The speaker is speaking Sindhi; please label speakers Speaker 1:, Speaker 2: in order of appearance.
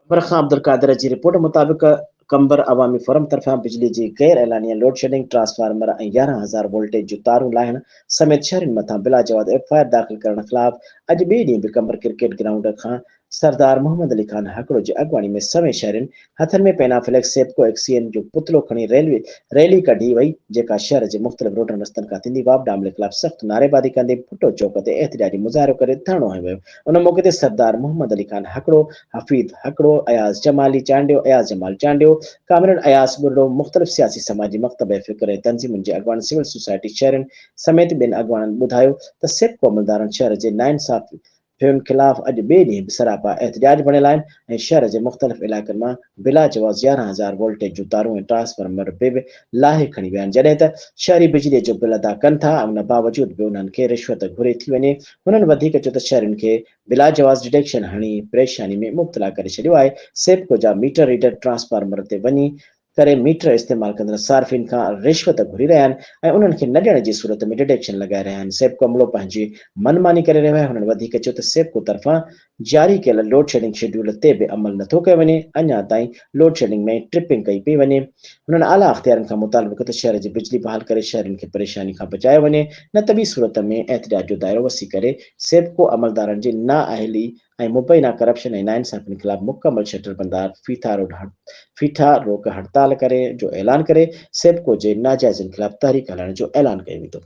Speaker 1: قمبر خان عبدالقادر جي رپورٽ مطابق قمبر عوامي فورم طرفان بجلي جي غير اعلانيه لوڊشيڊنگ، ٽرانسفارمر ۽ يارهن هزار وولٽيج جون تارون لاهڻ سميت شهرين مٿان بلاجواز ايف آء آر داخل ڪرڻ خلاف اڄ ٻئي ڏينهن به قمبر ڪرڪيٽ گرائونڊ کان سردار محمد علي خان هاڪڙو جي اڳواڻي ۾ سوين شهرين هٿن ۾ پينا فليڪس سيپڪو ايڪسيئن جو پتلو کڻي ريلوي ريلي ڪڍي وئي جيڪا شهر جي مختلف روڊن رستن کان ٿيندي وابڊا عملي خلاف سخت نعريبازي ڪندي ڀٽو چوڪ تي احتجاجي مظاهرو ڪري ڌرڻو هنيو ويو ان موقعي تي سردار محمد علي خان هڪڙو، حفيظ هڪڙو، اياز جمالي چانڊيو، اياز جمال چانڊيو، ڪامريڊ اياز ٻرڙو، مختلف سياسي سماجي مڪتب فڪر ۽ تنظيمن جي اڳواڻن سول سوسائٽي شهرين سميت ٻين اڳواڻن ٻڌايو ته سيپڪو عملدارن شهر جي ناانصافين خلاف اڄ ٻئي ڏينهن به سراپا احتجاج بڻيل آهن ۽ شھر جي مختلف علائقن مان بلا جواز يارهن هزار وولٽيج جون تارون ۽ ٽرانسفارمر به لاهي کڻي ويا آهن جڏهن ته شهري بجلي جو بل ادا ڪن ٿا ۽ ان باوجود به انهن کي رشوت گهري ٿي وڃي هنن وڌيڪ چيو ته شهرين کي بلاجواز ڊڊيڪشن هڻي پريشاني ۾ مبتلا ڪري ڇڏيو آهي سيپڪو جا ميٽر ريڊر ٽرانسفارمر تي وڃي ڪري ميٽر استعمال ڪندڙ صارفين کان رشوت گهري رهيا آهن ۽ انهن کي نه ڏيڻ جي صورت ۾ ڊڊيڪشن لڳائي رهيا آهن سيپڪو عملو پنهنجي من ماني ڪري رهيو آهي هنن وڌيڪ چيو ته سيپڪو طرفان جاري ڪيل لوڊشيڊنگ شيڊيول تي به عمل نٿو ڪيو وڃي اڃا تائين لوڊشيڊنگ ۾ ئي ٽرپنگ ڪئي پئي وڃي هنن اعليٰ اختيارين کان مطالبو ڪيو ته شهر جي بجلي بحال ڪري شهرين کي پريشاني کان بچايو وڃي نه ته ٻي صورت ۾ احتجاج جو دائرو وسيع ڪري سيپڪو عملدارن جي نااهلي ۽ مبينا ڪرپشن ۽ ناانصافين خلاف مڪمل شٽر بندار ڦيٿا روڊ ڦيٿا روڪ هڙتال ڪري جو اعلان ڪري سيپڪو جي ناجائزين خلاف تحريڪ هلائڻ جو اعلان ڪيو ويندو.